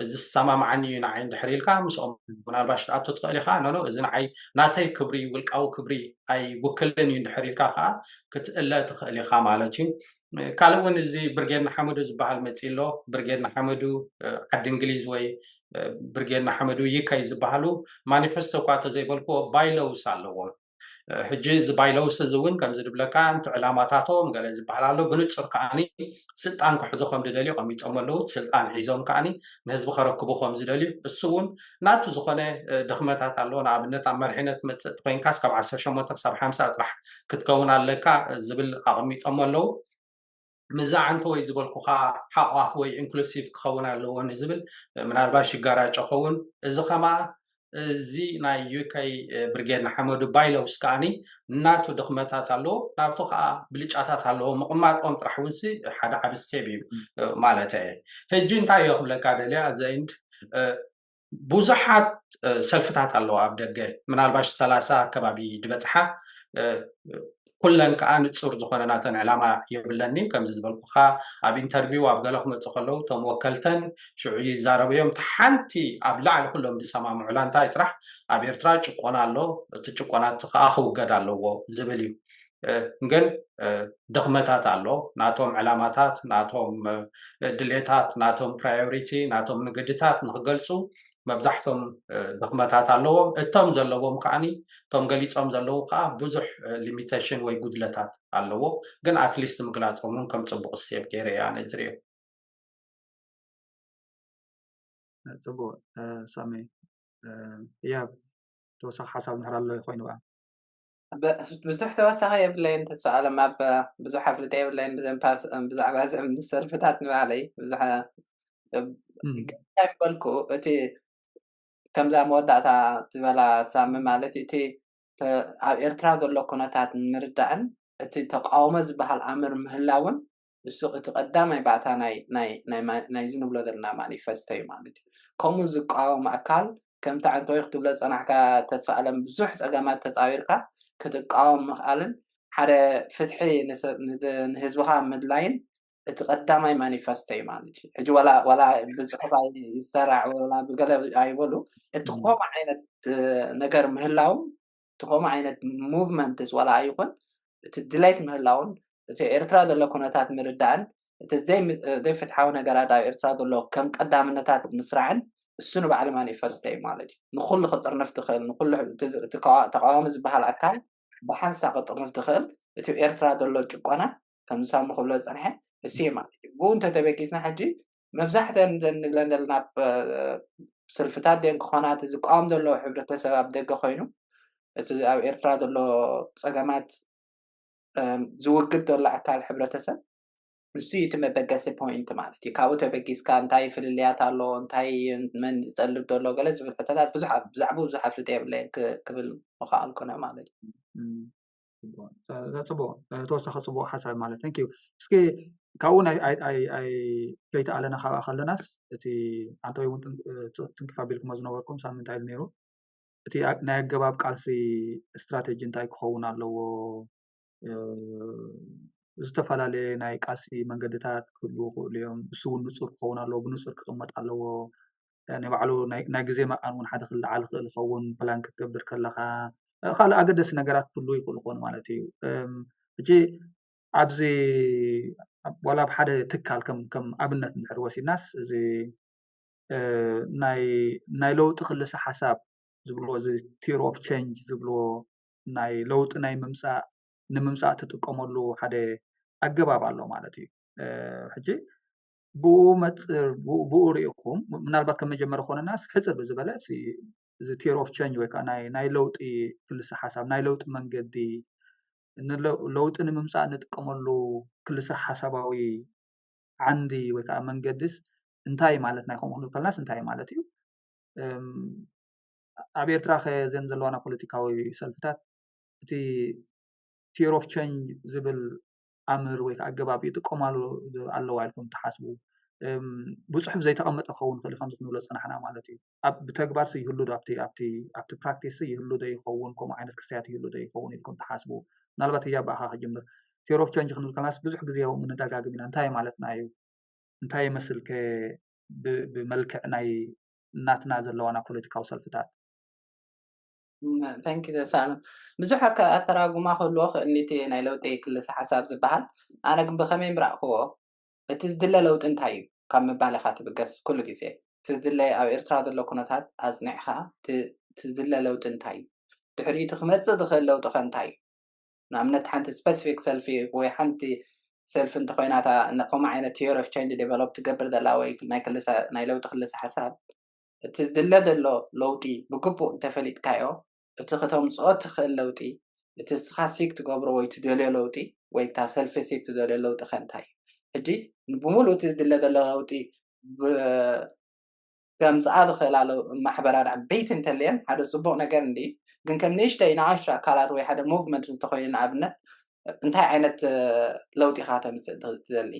እዚ ዝሰማማዓኒ እዩ ንዓይ እንድሕር ኢልካ ምስኦም ምናልባሽ ትኣቱ ትኽእል ኢኻ ኖኖ እዚ ንዓይ ናተይ ክብሪ ውልቃዊ ክብሪ ኣይውክልን እዩ እንድሕር ኢልካ ከዓ ክትእለ ትኽእል ኢኻ ማለት እዩ ካልእ እውን እዚ ብርጌድ ንሓመዱ ዝበሃል መፅእ ኣሎ ብርጌድ ንሓመዱ ዓዲ እንግሊዝ ወይ ብርጌድ ንሓመዱ ይከይ ዝበሃሉ ማኒፌስቶ እኳ ተዘይበልክዎ ባይለውስ ኣለዎም ሕጂ እዚ ባይለውስ እዚ እውን ከምዚ ዝብለካ እቲ ዕላማታቶም ገለ ዝበሃል ኣሎ ብንፁር ከዓኒ ስልጣን ክሕዙ ከም ዝደልዩ ቀሚጦም ኣለዉ ስልጣን ሒዞም ከዓኒ ንህዝቢ ከረክቡ ከም ዝደልዩ እሱ እውን ናቱ ዝኾነ ድኽመታት ኣለዎ ንኣብነት ኣብ መሪሕነት መፅእቲ ኮይንካስ ካብ ዓሰርተ ሸሞንተ ክሳብ ሓምሳ ጥራሕ ክትከውን ኣለካ ዝብል ኣቐሚጦም ኣለዉ ምስዛ ዓንተወይ ዝበልኩኻ ሓቋፍ ወይ ኢንክሉሲቭ ክኸውን ኣለዎ ንዝብል ምናልባሽ ይጋራጮ ኸውን እዚ ከማ እዚ ናይ ዩከይ ብርጌድ ንሓመዱ ባይለውስ ከዓኒ ናቱ ድኽመታት ኣለዎ ናብቱ ከዓ ብልጫታት ኣለዎ ምቕማጦም ጥራሕ ውንሲ ሓደ ዓብ ስቴብ እዩ ማለተ ሕጂ እንታይ እዮ ክብለካ ደልያ ዘኢንድ ብዙሓት ሰልፍታት ኣለዋ ኣብ ደገ ምናልባሽ ሰላሳ ኣከባቢ ድበፅሓ ኩለን ከዓ ንፁር ዝኾነ ናተን ዕላማ የብለኒ ከምዚ ዝበልኩኻ ኣብ ኢንተርቪው ኣብ ገለ ክመፁ ከለዉ እቶም ወከልተን ሽዑ ይዛረብዮም እቲ ሓንቲ ኣብ ላዕሊ ኩሎም ዝሰማምዑላ እንታይ ጥራሕ ኣብ ኤርትራ ጭቆና ኣሎ እቲ ጭቆና እቲ ከዓ ክውገድ ኣለዎ ዝብል እዩ ግን ድኽመታት ኣሎ ናቶም ዕላማታት ናቶም ድሌታት ናቶም ፕራዮሪቲ ናቶም ንግድታት ንክገልፁ መብዛሕቶም ድኽመታት ኣለዎም እቶም ዘለዎም ከዓኒ እቶም ገሊፆም ዘለዉ ከዓ ብዙሕ ሊሚቴሽን ወይ ጉድለታት ኣለዎ ግን ኣትሊስት ምግላፆም እውን ከም ፅቡቅ እሴት ገይረ እየ ኣነ ዝሪኦ ፅቡቅ ሳሚ ህያብ ተወሳኪ ሓሳብ እንድሕር ኣሎ ኮይኑ ከዓ ብዙሕ ተወሳኺ የብለይን ተስፋ ኣለም ኣብ ብዙሕ ኣፍልጠ የብለይን ብዘን ብዛዕባ ዝም ሰልፍታት ንባዕለይ ብዙሕ በልኩ እቲ ከምዛ መወዳእታ ዝበላ ሳሚ ማለት እቲ ኣብ ኤርትራ ዘሎ ኩነታት ንምርዳእን እቲ ተቃውሞ ዝበሃል ኣምር ምህላውን ንሱ እቲ ቀዳማይ ባእታ ናይ ናይ ናይ ናይዚ ንብሎ ዘለና ማኒፈስቶ እዩ ማለት እዩ ከምኡ ዝቃወም ኣካል ከምቲ ዓንተወይ ክትብሎ ዝጸናሕካ ተስፋኣለም ብዙሕ ጸገማት ተጻዊርካ ክትቃወም ምኽኣልን ሓደ ፍትሒ ንህዝብኻ ምድላይን እቲ ቀዳማይ ማኒፈስቶ እዩ ማለት እዩ ሕጂ ዋላ ዋላ ብጽሑፍ ይሰራዕ ዋላ ብገለ ኣይበሉ እቲ ከምኡ ዓይነት ነገር ምህላው እቲ ከምኡ ዓይነት ሞቭመንትስ ዋላ ኣይኹን እቲ ድሌት ምህላውን እቲ ኣብ ኤርትራ ዘሎ ኩነታት ምርዳእን እቲ ዘይፍትሓዊ ነገራት ኣብ ኤርትራ ዘሎ ከም ቀዳምነታት ምስራዕን እሱ ንባዕሉ ማኒፈስቶ እዩ ማለት እዩ። ንኹሉ ክጥርንፍ ዝኽእል ንኹሉ እቲ ተቓዋሚ ዝበሃል ኣካል ብሓንሳ ክጥርንፍ ዝኽእል እቲ ኣብ ኤርትራ ዘሎ ጭቆና ከምዚ ሳሚ ክብሎ ዝጸንሐ እሱ እዩ ማለት እዩ። ብኡ እንተተበጊስና ሕጂ መብዛሕተን እዘን ንብለን ዘለና ስልፍታት ድየን ክኾና እቲ ዝቃወም ዘሎ ሕብረተሰብ ኣብ ደገ ኮይኑ እቲ ኣብ ኤርትራ ዘሎ ፀገማት ዝውግድ ዘሎ ኣካል ሕብረተሰብ ንሱ እዩ እቲ መበገሲ ፖይንት ማለት እዩ ካብኡ ተበጊስካ እንታይ ፍልልያት ኣሎ እንታይ መን ዝጠልብ ዘሎ ገለ ዝብል ሕቶታት ብዙሕ ብዛዕባ ብዙሕ ኣፍልጦ የብለይን ክብል ምኽኣልኩነ ማለት እዩ ተወሳኺ ፅቡቅ ሓሳብ ማለት እዩ እስኪ ካብኡ ከይተኣለና ካብኣ ከለናስ እቲ ኣንታይ እውን ትንክፍ ኣቢልክሞ ዝነበርኩም ሳብ ምንታይ እዩ ነይሩ እቲ ናይ ኣገባብ ቃልሲ እስትራተጂ እንታይ ክኸውን ኣለዎ ዝተፈላለየ ናይ ቃልሲ መንገድታት ክህልው ይኽእሉ እዮም ንሱ እውን ንፁር ክኸውን ኣለዎ ብንፁር ክቅመጥ ኣለዎ። ናይ ባዕሉ ናይ ግዜ መቐን ውን ሓደ ክለዓል ይኽእል ይኸውን ፕላን ክትገብር ከለኻ ካልእ ኣገደሲ ነገራት ክህልዉ ይኽእሉ ክኾኑ ማለት እዩ ሕጂ ኣብዚ ዋላ ኣብ ሓደ ትካል ከም ኣብነት እንድሕር ወሲድናስ እዚ ናይ ለውጢ ክልሰ ሓሳብ ዝብልዎ እዚ ቲር ኦፍ ቸንጅ ዝብልዎ ናይ ለውጢ ናይ ምምፃእ ንምምፃእ ትጥቀመሉ ሓደ ኣገባብ ኣሎ ማለት እዩ ሕጂ ብኡ መፅር ብኡ ሪኢኹም ምናልባት ከም መጀመሪ ኮነና ሕፅር ብዝበለ እዚ ቴር ኦፍ ቸንጅ ወይ ከዓ ናይ ለውጢ ክልሰ ሓሳብ ናይ ለውጢ መንገዲ ለውጢ ንምምፃእ ንጥቀመሉ ክልሰ ሓሳባዊ ዓንዲ ወይ ከዓ መንገዲስ እንታይ ማለት ናይ ከምኡ ክንብል ከለናስ እንታይ ማለት እዩ ኣብ ኤርትራ ከ ዘን ዘለዋና ፖለቲካዊ ሰልፍታት እቲ ቴር ኦፍ ቸንጅ ዝብል ኣምር ወይ ከዓ ኣገባብ ይጥቀማሉ ኣለዋ ኢልኩም ትሓስቡ ብፅሑፍ ዘይተቐመጠ ክኸውን ይኽእል ከምዚ ክንብሎ ዝፀናሕና ማለት እዩ ኣብ ብተግባር ይህሉ ዶ ኣብቲ ኣብቲ ኣብቲ ፕራክቲስ ይህሉ ዶ ይኸውን ከምኡ ዓይነት ክስያት ይህሉ ዶ ይኸውን ኢልኩም ትሓስቡ ምናልባት እያ ብኣኻ ክጅምር ፌር ኦፍ ቸንጅ ክንብል ከለናስ ብዙሕ ግዜ ያው ምንደጋግም ኢና እንታይ ማለትና እዩ እንታይ ይመስል ከ ብመልክዕ ናይ እናትና ዘለዋና ፖለቲካዊ ሰልፍታት ታንክ ዩ ዘሳኣለም ብዙሕ ኣካ ኣተራጉማ ክህልዎ ክእል ኒቲ ናይ ለውጢ ክልሰ ሓሳብ ዝባሃል ኣነ ግን ብከመይ ምራእክዎ እቲ ዝድለ ለውጢ እንታይ ዩ ካብ ምባል ኢካ ትብገስ ኩሉ ግዜ እቲ ዝድለ ኣብ ኤርትራ ዘሎ ኩነታት ኣጽኒዕካ እቲ እቲ ዝድለ ለውጢ እንታይ ዩ ድሕሪኡ እቲ ክመጽእ ዝክእል ለውጢ ከ እንታይ ዩ ንኣብነት ሓንቲ ስፐስፊክ ሰልፊ ወይ ሓንቲ ሰልፊ እንተኮይና እታ ከምኡ ዓይነት ቲዮሪ ኦፍ ቸንጅ ደቨሎፕ ትገብር ዘላ ወይ ናይ ክልሰ ናይ ለውጢ ክልሰ ሓሳብ እቲ ዝድለ ዘሎ ለውጢ ብግቡእ እንተፈሊጥካዮ፣ እቲ ከተምጽኦ እትኽእል ለውጢ፣ እቲ ንስኻ ሲክ ትገብሮ ወይ ትደልዮ ለውጢ፣ ወይ እታ ሰልፊ ሲክ ትደልዮ ለውጢ ከ እንታይ እዩ? ሕጂ ንብምሉኡ እቲ ዝድለ ዘሎ ለውጢ ብ ከምጽኣ ዝኽእላ ለው ማሕበራት ዓበይቲ እንተልየን ሓደ ጽቡቕ ነገር እንድዩ፣ ግን ከም ንእሽተይ ንኣሽቱ ኣካላት ወይ ሓደ ሞቭመንት እንተኾይኑ ንኣብነት እንታይ ዓይነት ለውጢ ኢኻ ከተምጽእ ትደሊ?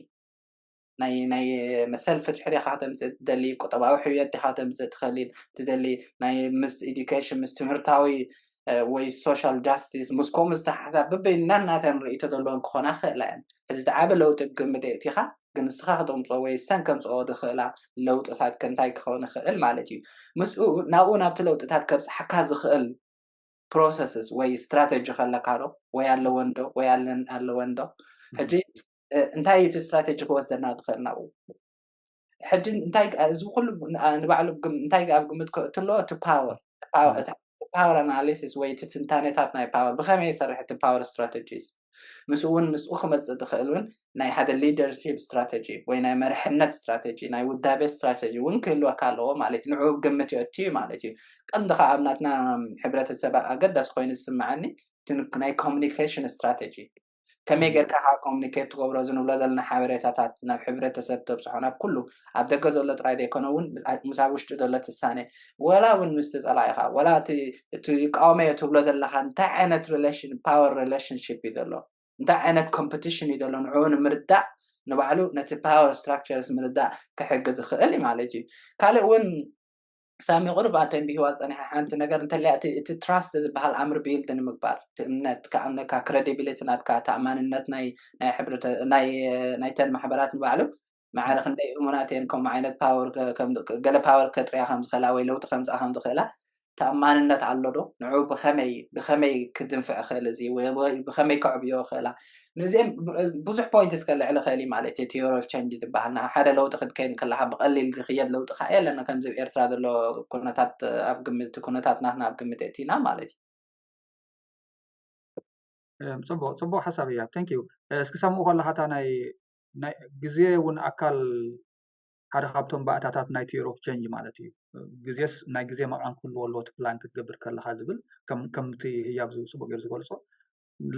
ናይ ናይ መሰል ፍትሒ ዲኻ ከተምጽእ ትደሊ ቁጠባዊ ሕውየት ዲኻ ተምጽእ ትኸሊ ትደሊ ናይ ምስ ኤዱኬሽን ምስ ትምህርታዊ ወይ ሶሻል ጃስቲስ ምስ ከምኡ ዝተሓሓዛ በበይን ናናተን ርእይቶ ዘለወን ክኾና ክኽእላ እየን እዚ እቲ ዓቢ ለውጢ ግምት የእቲኻ ግን ንስኻ ከተምፅኦ ወይ ሰን ከምፅኦ ዝኽእላ ለውጥታት ከንታይ ክኸውን ይኽእል ማለት እዩ ምስኡ ናብኡ ናብቲ ለውጥታት ከብፅሓካ ዝኽእል ፕሮሰስስ ወይ ስትራተጂ ከለካ ዶ ወይ ኣለወን ዶ ወይ ኣለወን ዶ ሕጂ እንታይ እዩ እቲ ስትራቴጂ ክወስደና ዝኽእል ናብኡ ሕጂ እንታይ እዚ ኩሉ ንባዕሉ እንታይ ኣብ ግምት ክእቱ ኣለዎ እቲ ፓወር ፓወር ኣናሊሲስ ወይ እቲ ትንታኔታት ናይ ፓወር ብኸመይ ይሰርሕ እቲ ፓወር ስትራቴጂስ ምስኡ እውን ምስኡ ክመፅእ ዝኽእል እውን ናይ ሓደ ሊደርሽፕ ስትራቴጂ ወይ ናይ መርሕነት ስትራቴጂ ናይ ውዳቤ ስትራቴጂ እውን ክህልወካ ኣለዎ ማለት እዩ ንዕኡ ግምት የእቱ እዩ ማለት እዩ ቀንዲ ከዓ ኣብ ናትና ሕብረተሰብ ኣገዳሲ ኮይኑ ዝስምዐኒ ናይ ኮሚኒኬሽን ስትራቴጂ ከመይ ጌርካ ከኣ ኮሙኒኬት ትገብሮ እዚ ንብሎ ዘለና ሓበሬታታት ናብ ሕብረተሰብ ተብጽሖ ናብ ኩሉ ኣብ ደገ ዘሎ ጥራይ ዘይኮነ ውን ምስ ኣብ ውሽጢ ዘሎ ትሳነ ወላ ውን ምስቲ ጸላኢኻ ወላ እቲ እቲ ይቃወመዮ ትብሎ ዘለኻ እንታይ ዓይነት ሪሌሽን ፓወር ሪሌሽንሺፕ እዩ ዘሎ እንታይ ዓይነት ኮምፒቲሽን እዩ ዘሎ ንዕኡ ንምርዳእ ንባዕሉ ነቲ ፓወር ስትራክቸርስ ምርዳእ ክሕግዝ ይኽእል ማለት እዩ ካልእ ውን ሳሚ ቁሩብ ኣተንቢህዋ ጸኒሓ ሓንቲ ነገር እንተልያ እቲ እቲ ትራስት ዝብሃል ኣምር ቢይልድ ንምግባር እቲ እምነት ክኣምነካ ክረዲቢሊቲ ናትካ ተኣማንነት ናይ ናይ ሕብረተ ናይ ናይተን ማሕበራት ንባዕሉ ማዕረ ክንደይ እሙናት እየን ከምኡ ዓይነት ፓወር ከም ገለ ፓወር ከጥርያ ከም ዝኽእላ ወይ ለውጢ ከምጽኣ ከም ዝኽእላ ተኣማንነት ኣሎ ዶ ንዕኡ ብኸመይ ብኸመይ ክድንፍዕ ይኽእል እዚ ወይ ብኸመይ ከዕብዮ ይኽእላ ነዚኤን ብዙሕ ፖይንትስ ከልዕል ይኽእል እዩ ማለት እየ ቲዮሪ ኦፍ ቸንጅ ዝበሃል ናብ ሓደ ለውጢ ክትከይድ እንከለኻ ብቐሊል ዝኽየድ ለውጢ ከዓ የለን ከምዚ ኣብ ኤርትራ ዘሎ ኩነታት ኣብ ግምት ኩነታት ናትና ኣብ ግምት የእቲና ማለት እዩ ፅቡቅ ፅቡቅ ሓሳብ እያ ቴንክ ዩ እስኪ ሰምኡ ከለካ እታ ናይ ግዜ እውን ኣካል ሓደ ካብቶም ባእታታት ናይ ቲዮሪ ኦፍ ቸንጅ ማለት እዩ ግዜስ ናይ ግዜ መቃን ክህልዎ ኣለዎ እቲ ፕላን ክትገብር ከለካ ዝብል ከምቲ ህያብ ፅቡቅ ገይሩ ዝገልፆ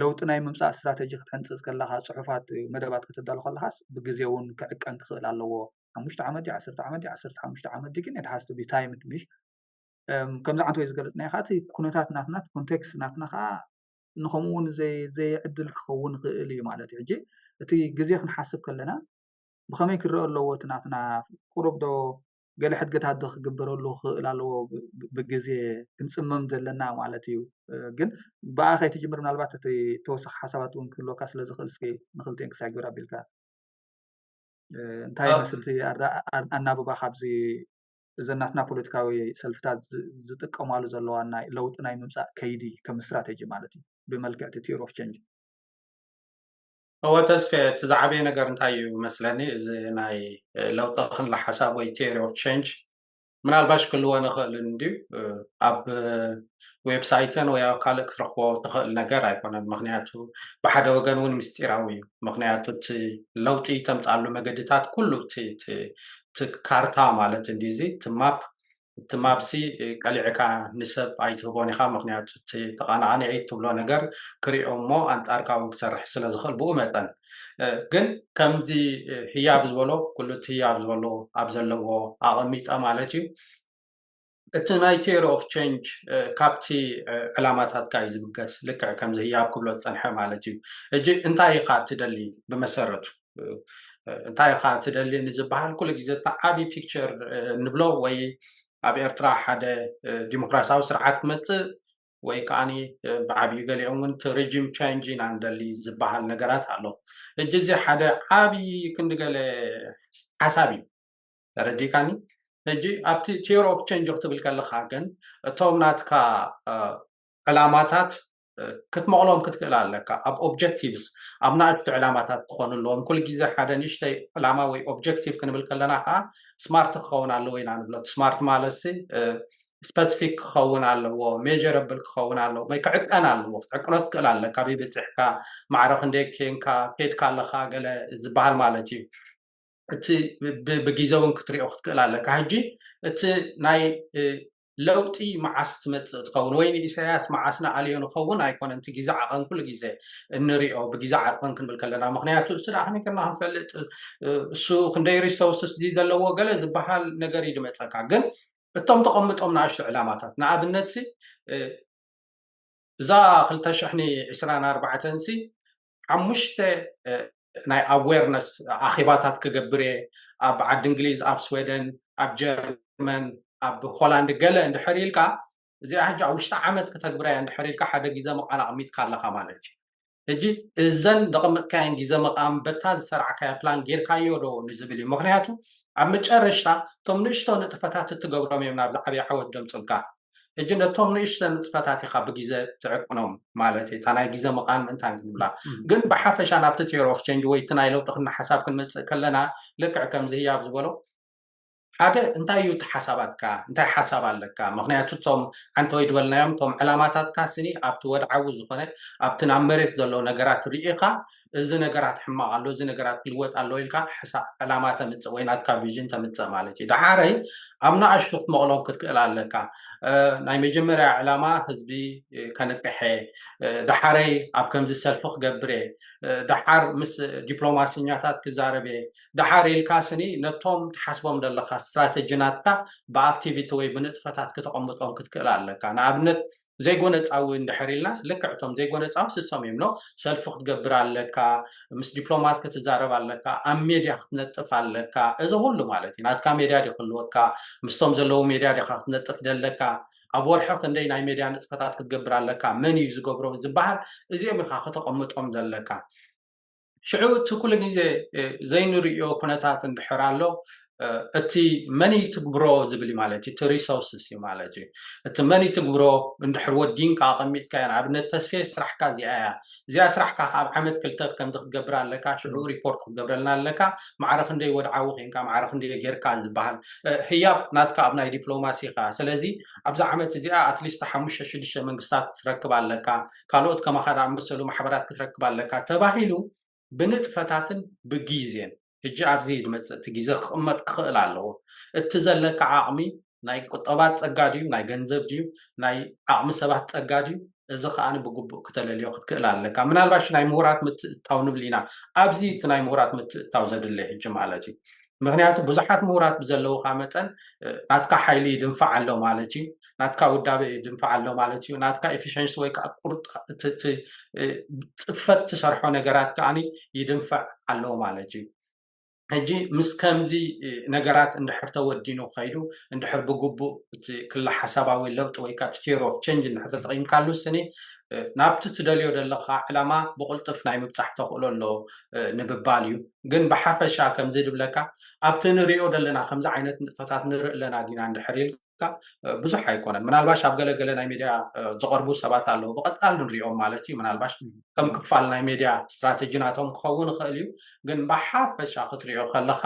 ለውጢ ናይ ምምፃእ ስትራተጂ ክትሕንፅፅ ከለኻ ፅሑፋት መደባት ከተዳሉ ከለኻስ ብግዜ እውን ክዕቀን ክኽእል ኣለዎ። ሓሙሽተ ዓመት ድዩ ዓሰርተ ዓመት ድዩ ዓሰርተ ሓሙሽተ ዓመት ድዩ ግን it has to be timed ምሽ ከምዚ ዓንተ ወይ ዝገለፅናዮ ከዓ እቲ ኩነታት ናትና እቲ ኮንቴክስት ናትና ከዓ ንከምኡ እውን ዘይዕድል ክኸውን ይኽእል እዩ ማለት እዩ ሕጂ እቲ ግዜ ክንሓስብ ከለና ብከመይ ክረአ ኣለዎ እቲ ናትና ቁሩብ ዶ ገለ ሕድገታት ዶ ክግበረሉ ክኽእል ኣለዎ ብግዜ ክንጽመም ዘለና ማለት እዩ ግን ብኣ ከይትጅምር ምናልባት እቲ ተወሳኺ ሓሳባት እውን ክህልወካ ስለ ዝኽእል እስኪ ንክልቲኤን ክሳዕ ግብር ኣቢልካ እንታይ ይመስል እቲ ኣናብባ ካብዚ እዚ ናትና ፖለቲካዊ ሰልፍታት ዝጥቀማሉ ዘለዋ ናይ ለውጢ ናይ ምምፃእ ከይዲ ከም ስትራቴጂ ማለት እዩ ብመልክዕ እቲ ቲዮሪ ኦፍ ቸንጅ እወ ተስፌ እቲ ዝዓበየ ነገር እንታይ እዩ መስለኒ እዚ ናይ ለውጢ ክለ ሓሳብ ወይ ቴሪ ኦፍ ቸንጅ ምናልባሽ ክልወ ንኽእል እንድዩ ኣብ ዌብሳይትን ወይ ኣብ ካልእ ክትረክቦ ትኽእል ነገር ኣይኮነን ምክንያቱ ብሓደ ወገን እውን ምስጢራዊ እዩ ምክንያቱ እቲ ለውጢ ተምፃሉ መገድታት ኩሉ እቲ ካርታ ማለት እንዲ እዚ እቲ ማፕ እቲ ማፕሲ ቀሊዕካ ንሰብ ኣይትህቦን ኢኻ ምኽንያቱ እቲ ተቓናቓኒ እትብሎ ነገር ክሪኦ እሞ ኣንጻርካ ውን ክሰርሕ ስለ ዝኽእል ብኡ መጠን ግን ከምዚ ህያብ ዝበሎ ኩሉ እቲ ህያብ ዝበሎ ኣብ ዘለዎ ኣቐሚጠ ማለት እዩ እቲ ናይ ቴሪ ኦፍ ቸንጅ ካብቲ ዕላማታትካ እዩ ዝብገስ ልክዕ ከምዚ ህያብ ክብሎ ዝጸንሐ ማለት እዩ እጂ እንታይ ኢኻ እትደሊ ብመሰረቱ እንታይ ኢኻ ትደሊ ንዝበሃል ኩሉ ግዜ እቲ ዓብዪ ፒክቸር እንብሎ ወይ ኣብ ኤርትራ ሓደ ዲሞክራሲያዊ ስርዓት ክመፅእ ወይ ከዓ ብዓብዩ ገሊኦም እውን እቲ ሬጂም ቻንጅ ኢና ንደሊ ዝበሃል ነገራት ኣሎ እጂ እዚ ሓደ ዓብዪ ክንዲ ገለ ሓሳብ እዩ ተረዲእካኒ ሕጂ ኣብቲ ቴዎሪ ኦፍ ቸንጅ ክትብል ከለካ ግን እቶም ናትካ ዕላማታት ክትመቕሎም ክትክእል ኣለካ ኣብ ኦብጀክቲቭስ ኣብ ናእሽቱ ዕላማታት ክኾኑ ኣለዎም ኩሉ ግዜ ሓደ ንእሽተይ ዕላማ ወይ ኦብጀክቲቭ ክንብል ከለና ከዓ ስማርት ክኸውን ኣለዎ ኢና ንብሎ ስማርት ማለት ስፐሲፊክ ክኸውን ኣለዎ ሜጀረብል ክኸውን ኣለዎ ወይ ክዕቀን ኣለዎ ክትዕቅኖ ትክእል ኣለ ካበይ በፂሕካ ማዕረ ክንደይ ኬንካ ኬድካ ኣለካ ገለ ዝበሃል ማለት እዩ እቲ ብግዜ እውን ክትሪኦ ክትክእል ኣለካ ሕጂ እቲ ናይ ለውጢ መዓስ ትመጽእ ትኸውን ወይ ንኢሰያስ መዓስ ንኣልዮ ንኸውን ኣይኮነን እቲ ጊዘ ዓቐን ኩሉ ጊዘ እንሪኦ ብጊዘ ዓቕን ክንብል ከለና ምክንያቱ እሱ ደኣ ከመይ ጌርና ክንፈልጥ እሱ ክንደይ ሪሶርስስ ድዩ ዘለዎ ገለ ዝበሃል ነገር እዩ ድመጸካ ግን እቶም ተቐምጦም ንኣሽቱ ዕላማታት ንኣብነት እዛ ክልተ ሽሕኒ ዕስራን ኣርባዕተን ሲ ሓሙሽተ ናይ ኣዌርነስ ኣኼባታት ክገብር እየ ኣብ ዓዲ እንግሊዝ ኣብ ስወደን ኣብ ጀርመን ኣብ ሆላንድ ገለ እንድሕር ኢልካ እዚኣ ሕጂ ኣብ ውሽጢ ዓመት ክተግብራ እያ እንድሕር ኢልካ ሓደ ግዜ መቓል ኣቕሚጥካ ኣለካ ማለት እዩ ሕጂ እዘን ዘቐመጥካየን ግዜ መቓም በታ ዝሰርዕካዮ ፕላን ጌርካዮ ዶ ንዝብል እዩ ምክንያቱ ኣብ መጨረሽታ እቶም ንእሽቶ ንጥፈታት እትገብሮም እዮም ናብዚ ዓብዪ ዓወት ደምፅልካ ሕጂ ነቶም ንእሽተ ንጥፈታት ኢኻ ብጊዘ ትዕቅኖም ማለተይ እታ ናይ ጊዘ ምቓን ምእንታን ክንብላ ግን ብሓፈሻ ናብቲ ቴር ኦፍ ቸንጅ ወይ እቲ ናይ ለውጢ ክና ሓሳብ ክንመጽእ ከለና ልክዕ ከምዚ ህያብ ዝበሎ ሓደ እንታይ እዩ እቲ ሓሳባትካ እንታይ ሓሳብ ኣለካ ምክንያቱ እቶም ዓንተወይ ድበልናዮም እቶም ዕላማታትካ ስኒ ኣብቲ ወድዓዊ ዝኮነ ኣብቲ ናብ መሬት ዘሎ ነገራት ርኢካ እዚ ነገራት ሕማቅ ኣሎ እዚ ነገራት ክልወጥ ኣለዎ ኢልካ ሕሳብ ዕላማ ተምጽእ ወይ ናትካ ቪዥን ተምጽእ ማለት እዩ ደሓረይ ኣብ ንኣሽቱ ክትመቕሎም ክትክእል ኣለካ ናይ መጀመርያ ዕላማ ህዝቢ ከንቅሐ ደሓረይ ኣብ ከምዚ ሰልፊ ክገብር እየ ደሓር ምስ ዲፕሎማስኛታት ክዛረብ እየ ደሓር ኢልካ ስኒ ነቶም ትሓስቦም ዘለካ ስትራተጂ ናትካ ብኣክቲቪቲ ወይ ብንጥፈታት ክተቐምጦም ክትክእል ኣለካ ንኣብነት ዘይጎነጻዊ እንድሕር ኢልናስ ልክዕ እቶም ዘይጎነጻዊ ስሶም እዮም ን ሰልፊ ክትገብር ኣለካ ምስ ዲፕሎማት ክትዛረብ ኣለካ ኣብ ሜድያ ክትነጥፍ ኣለካ እዚ ኩሉ ማለት እዩ ናትካ ሜድያ ድዩ ክህልወካ ምስቶም ዘለዉ ሜድያ ዲካ ክትነጥፍ ደለካ ኣብ ወርሒ ክንደይ ናይ ሜድያ ንጥፈታት ክትገብር ኣለካ መን እዩ ዝገብሮ ዝበሃል እዚኦም ኢካ ከተቀምጦም ዘለካ ሽዑ እቲ ኩሉ ግዜ ዘይንርእዮ ኩነታት እንድሕር ኣሎ እቲ መን ይትግብሮ ዝብል እዩ ማለት እዩ እቲ ሪሶርስስ እዩ ማለት እዩ እቲ መን ይትግብሮ እንድሕር ወዲንካ ኣቐሚጥካ እያ ንኣብነት ተስፌ ስራሕካ እዚኣ እያ እዚኣ ስራሕካ ካብ ዓመት ክልተ ከምዚ ክትገብር ኣለካ ሽዑ ሪፖርት ክትገብረልና ኣለካ ማዕረ ክንደይ ወድዓዊ ኮንካ ማዕረ ክንደይ ጌርካ ዝበሃል ህያብ ናትካ ኣብ ናይ ዲፕሎማሲ ኢኻ ስለዚ ኣብዚ ዓመት እዚኣ ኣትሊስት ሓሙሽተ ሽዱሽተ መንግስታት ትረክብ ኣለካ ካልኦት ከማኻ ዝኣመሰሉ ማሕበራት ክትረክብ ኣለካ ተባሂሉ ብንጥፈታትን ብጊዜን ሕጂ ኣብዚ ዝመጽእ እቲ ጊዘ ክቕመጥ ክኽእል ኣለዎ እቲ ዘለካ ዓቕሚ ናይ ቁጠባ ጸጋ ድዩ ናይ ገንዘብ ድዩ ናይ ዓቕሚ ሰባት ጸጋ ድዩ እዚ ከኣ ብግቡእ ክተለልዮ ክትክእል ኣለካ ምናልባሽ ናይ ምሁራት ምትእትታው ንብል ኢና ኣብዚ እቲ ናይ ምሁራት ምትእትታው ዘድሊ ሕጂ ማለት እዩ ምክንያቱ ብዙሓት ምሁራት ብዘለውካ መጠን ናትካ ሓይሊ ይድንፋዕ ኣሎ ማለት እዩ ናትካ ውዳበ ይድንፋዕ ኣሎ ማለት እዩ ናትካ ኤፊሽንሲ ወይ ከዓ ቁርጥ ፅፈት ትሰርሖ ነገራት ከዓኒ ይድንፈዕ ኣሎ ማለት እዩ ሕጂ ምስ ከምዚ ነገራት እንድሕር ተወዲኑ ከይዱ እንድሕር ብግቡእ እቲ ክላ ሓሳባዊ ለውጢ ወይ ከዓ ቴር ኦፍ ቸንጅ እንድሕር ተጠቂምካሉ ስኒ ናብቲ ትደልዮ ዘለካ ዕላማ ብቕልጡፍ ናይ ምብፃሕ ተኽእሎ ኣሎ ንምባል እዩ ግን ብሓፈሻ ከምዚ ድብለካ ኣብቲ ንሪኦ ዘለና ከምዚ ዓይነት ንጥፈታት ንርኢ ኣለና ዲና እንድሕር ኢልካ ብዙሕ ኣይኮነን ምናልባሽ ኣብ ገለገለ ናይ ሚድያ ዝቐርቡ ሰባት ኣለዉ ብቐጣል ንሪኦም ማለት እዩ ምናልባሽ ከም ክፋል ናይ ሚድያ ስትራቴጂ ናቶም ክኸውን ይኽእል እዩ ግን ብሓፈሻ ክትሪኦ ከለኻ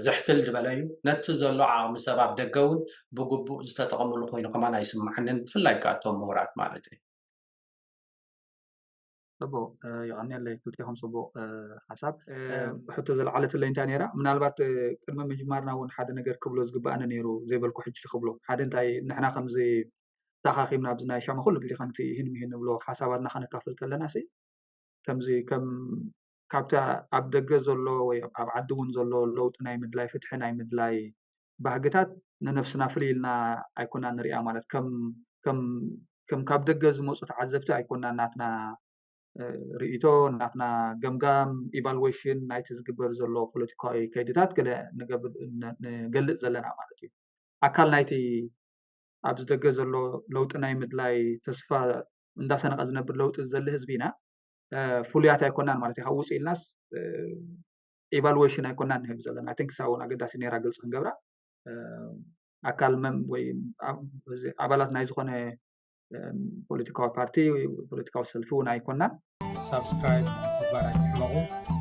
ዝሕትል ዝበለ እዩ ነቲ ዘሎ ዓቕሚ ሰብ ኣብ ደገ እውን ብግቡእ ዝተጠቐምሉ ኮይኑ ከማን ኣይስማዓንን ብፍላይ ከዓ እቶም ምሁራት ማለት እዩ ፅቡቕ የቐንየለይ ክልቴኹም ፅቡቕ ሓሳብ ሕቶ ዘለዓለትለይ እንታይ ነይራ ምናልባት ቅድሚ ምጅማርና እውን ሓደ ነገር ክብሎ ዝግባእኒ ነይሩ ዘይበልኩ ሕጂ ክብሎ ሓደ እንታይ ንሕና ከምዚ ተኣኻኺብና ኣብዚ ናይ ሻማ ኩሉ ግዜ ከምቲ ይህን ምሂን ንብሎ ሓሳባትና ከነካፍል ከለና ሲ ከምዚ ከም ካብቲ ኣብ ደገ ዘሎ ወይ ኣብ ዓዲ እውን ዘሎ ለውጢ ናይ ምድላይ ፍትሒ ናይ ምድላይ ባህግታት ንነፍስና ፍልይ ኢልና ኣይኮና ንሪኣ ማለት ከም ካብ ደገ ዝመፁ ተዓዘብቲ ኣይኮና ናትና ርእቶ ናትና ገምጋም ኢቫሉዌሽን ናይቲ ዝግበር ዘሎ ፖለቲካዊ ከይድታት ገለ ንገልፅ ዘለና ማለት እዩ ኣካል ናይቲ ኣብዚ ደገ ዘሎ ለውጢ ናይ ምድላይ ተስፋ እንዳሰነቐ ዝነብር ለውጢ ዝዘሊ ህዝቢ ኢና ፍሉያት ኣይኮናን ማለት እዩ ካብ ውፅእ ኢልናስ ኢቫሉዌሽን ኣይኮናን ንህብ ዘለና ኣይን ክሳብ እውን ኣገዳሲ ነራ ግልፂ ክንገብራ ኣካል መም ወይ ኣባላት ናይ ዝኮነ ፖለቲካዊ ፓርቲ ወይ ፖለቲካዊ ሰልፊ እውን ኣይኮናን ሳብስክራይብ ግባር ኣይትሕመቁ